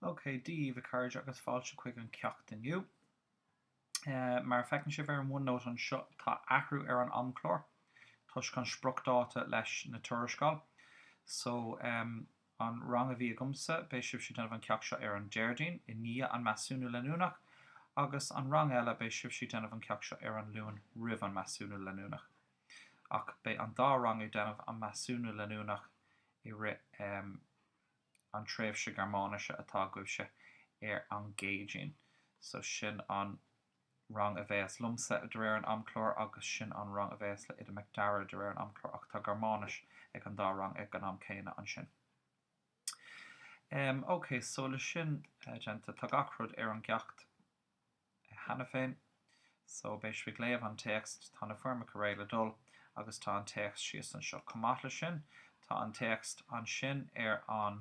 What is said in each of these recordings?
Ok, Dia daoibh a cairde agus fáilte chuig an ceacht inniu. Mar a feiceann sibh ar an OneNote anseo tá athrú ar an amchlár toisc an spriocdháta leis na tuarascáil. So, an rang a bhí agamsa, beidh sibhse ag déanamh an ceacht seo ar an Déardaoin i ndiaidh an measúnú leanúnach agus an rang eile beidh sibhse ag déanamh an ceacht seo ar an Luan roimh an measúnú leanúnach. ach beidh an dá rang ag déanamh an measúnú leanúnach i rith an tréimhse Gearmáinise atá agaibhse ar an gCéadaoin. So sin an rang a bheas liomsa de réir an amchlár agus sin an rang a bheas le Oide Mac Dara de réir an amchlár ach tá Gearmáinis ag an dá rang ag an am céanna ansin. Em, okay, so le sin déanta, tá gach rud ar an gceacht. cheana féin. So, beidh sibh ag léamh an téacs, tá na foirmeacha réidh le dul agus tá an téacs síos anseo. Chomh maith leis sin, tá an téacs ansin ar an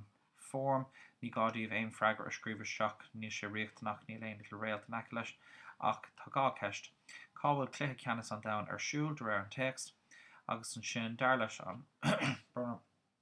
foirm, ní gá daoibh aon freagra a scríobh isteach, níl sé riachtanach, níl aon, like, réalt in aice leis. Ach tá dhá cheist, cá bhfuil Cluiche Ceannais an Domhain ar siúl, de réir an téacs? Agus ansin, dar leis an bhfoirm.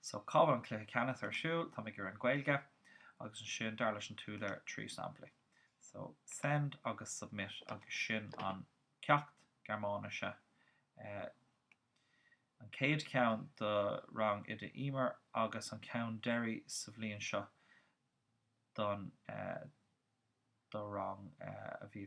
So, cá bhfuil an cluiche ceannais ar siúl? Tá mé ag iarraidh an Ghaeilge agus ansin, dar leis an t-údar, trí samplaí. So, send agus submit agus sin an ceacht Gearmáinise. Eh, an céad ceann do rang Oide Emer agus an ceann deiridh sa bhliain seo don eh, do rang eh, a bhí